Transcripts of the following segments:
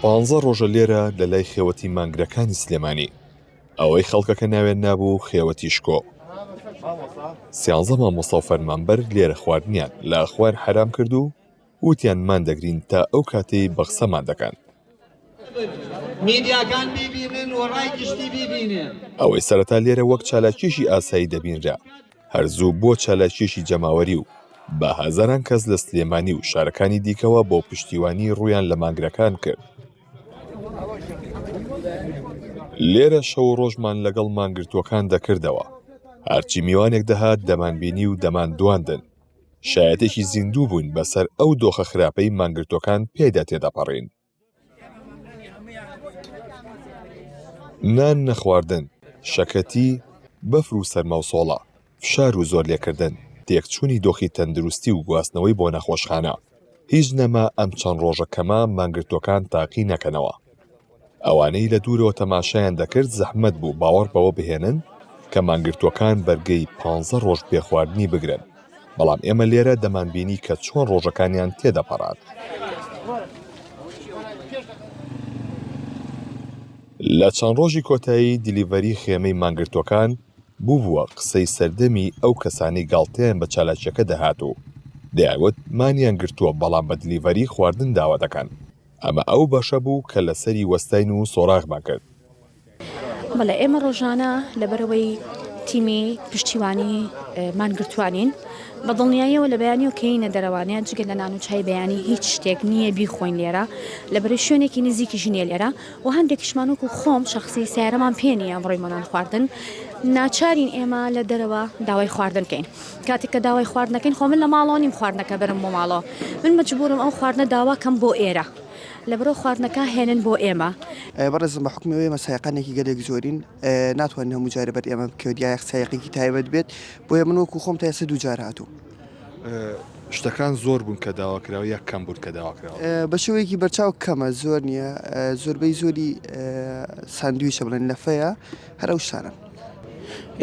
پانزە ڕۆژە لێرە لە لای خێوەتی مانگرەکانی سلێمانی. ئەوەی خەڵکەکە ناوێن نابوو خێوەتی شکۆ. سیانزە مامۆستا و فەرمانبەر لێرە خواردنیان لە خوار حەرام کرد و وتیان مان دەگرین تا ئەو کاتەی بە قسەمان دەکەن. میدیاکان بیبینن و ڕای گشتی بیبینێ. ئەوەی سەرەتا لێرە وەک چالاکیەکی ئاسایی دەبینرا. هەر زوو بووە چالاکییەکی جەماوەری و بە هەزاران کەس لە سلێمانی و شارەکانی دیکەوە بۆ پشتیوانی ڕوویان لە مانگرەکان کرد. لێرە شەو و ڕۆژمان لەگەڵ مانگرتووەکان دەکردەوە. هەرچی میوانێک دەهات دەمانبینی و دەماندواندن. شایەتێکی زیندوو بووین بەسەر ئەو دۆخە خراپەی مانگرتووەکان پێیدا تێدەپەڕین. نان نەخواردن، شەکەتی، بەفر و سەرما و سۆڵە، فشار و زۆرلێکردن، تێکچوونی دۆخی تەندروستی و گواستنەوەی بۆ نەخۆشخانە، هیچ نەما ئەم چەند ڕۆژە کەمە مانگرتووەکان تاقی نەکەنەوە. ئەوانەی لە دوورەوە تەماشایان دەکرد زەحمەت بوو باوەڕ بەوە بهێنن کە مانگرتووەکان بەرگەی پانزە ڕۆژ بێ خواردنی بگرن. بەڵام ئێمە لێرە دەمانبینی کە چۆن ڕۆژەکانیان تێدەپەڕان. لە چەند ڕۆژی کۆتایی دیلیڤەری خێمەی مانگرتووەکان بووبووە قسەی سەردەمی ئەو کەسانەی گاڵتەیان بە چالاکییەکە دەهات و دەیانگوت مانیان گرتووە بەڵام بە دیلیڤەری خواردن داوا دەکەن. ئەمە ئەو بەشە بوو کە لەسەری وەستاین و سۆراغمان کرد. بەڵێ ئێمە ڕۆژانە لەبەرەوەی تیمی پشتیوانی مانگرتوانین بە دڵنیاییەوە لە بەیانی و کەینە دەرەوانەیە جگە لە نان و چای بەیانی هیچ شتێک نییە بیخۆین لێرە لە بەرەی شوێنێکی نزیکی ژنیە لێرە و هەندێکیشمانوەک و خۆم شخصی سیارەمان پێ نیە ئەمڕۆی مەنان خواردن ناچارین ئێمە لە دەرەوە داوای خواردن بکەین کاتێک کە داوای خواردنەکەین خۆ من لە ماڵەوە نیم خواردنەکە بەرم بۆ ماڵەوە من مەجبورم ئەو خواردنە داواکەم بۆ ئێرە لەبەرئەوە خواردنەکە هێنن بۆ ئێمە. بەڕێزم بە حوکمی ئەوەی ئێمە سایەقانێکی گەلێک زۆرین ناتوانین هەموو جارە بەر ئێمە بکەوێت یاخ سایەقێکی تایبەت بێت بۆیە من وەکو خۆم تا ئێستا دوو جار هاتووم. شتەکان زۆر بوون کە داواکراوە یا کەم بوون کە داواکراوە؟ بە شێوەیەکی بەرچاو کەمە زۆر نییە زۆربەی زۆری ساندویچە بڵێن لەفەیە هەر ئەو شتانەن.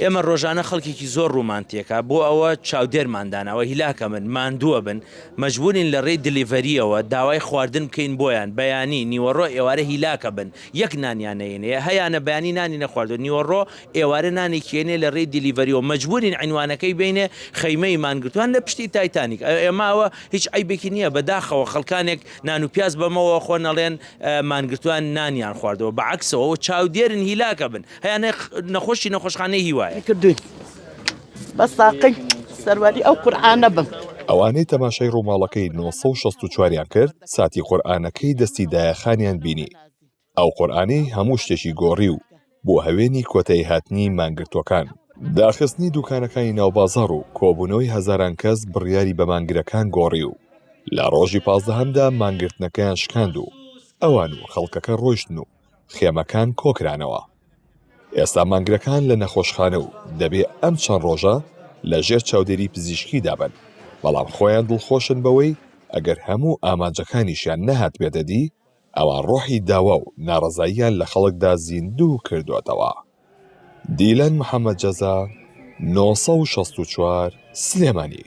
ئێمە ڕۆژانە خەڵکێکی زۆر ڕوومان تێکا بۆ ئەوە چاودێرمان داناوە هیلاکە من ماندووە بن مەجبورین لە ڕێی دلیڤەریەوە داوای خواردن بکەین بۆیان بەیانی نیوەڕۆ ئێوارە هیلاکە بن یەک نانیانەینەیە هەیانە بەیانی نانی نەخواردوە نیوەڕۆ ئێوارە نانێکیێنێ لە ڕێی دلیڤەریەوە مەجبورین عینوانەکەی بینێ خەیمەی مانگرتوان لە پشتی تایتانیک ئێماوە هیچ عیبێکی نییە بەداخەوە خەڵکانێک نان و پیاز بەمەوە خۆ نەڵێن مانگرتوان نانیان خواردەوە بەعکسەوە چاودێرن هیلاکە بن هەیە نە نەخۆشی نەخۆشخانەی هیوایە. کردووی بە ساقەی سەرواری ئەو قورعانە بم. ئەوانەی تەماشای ڕووماڵەکەی نۆ سەد و شەست و چوار یان کرد ساتی قورئانەکەی دەستی دایە خانیان بینی ئەو قورئانەی هەموو شتێکی گۆڕی و بۆ هەوێنی کۆتایی هاتنی مانگرتووەکان داخستنی دووکانەکانی ناو بازاڕ و کۆبوونەوەی هەزاران کەس بڕیاری بە مانگرەکان گۆڕی و لە ڕۆژی پازدەهەمدا مانگرتنەکەیان شکاند و ئەوان و خەڵکەکە ڕۆیشتن و خێمەکان کۆکرانەوە ئێستا مانگرەکان لە نەخۆشخانە و دەبێ ئەم چەند ڕۆژە لە ژێر چاودێری پزیشکی دابن بەڵام خۆیان دڵخۆشن بەوەی ئەگەر هەموو ئامانجەکانیشیان نەهات بێتەدی ئەوان ڕۆحی داوا و ناڕەزاییان لە خەڵکدا زیندوو کردۆتەوە. دیلان محەمەد جەزا، نۆ سەد و شەست و چوار، سلێمانی.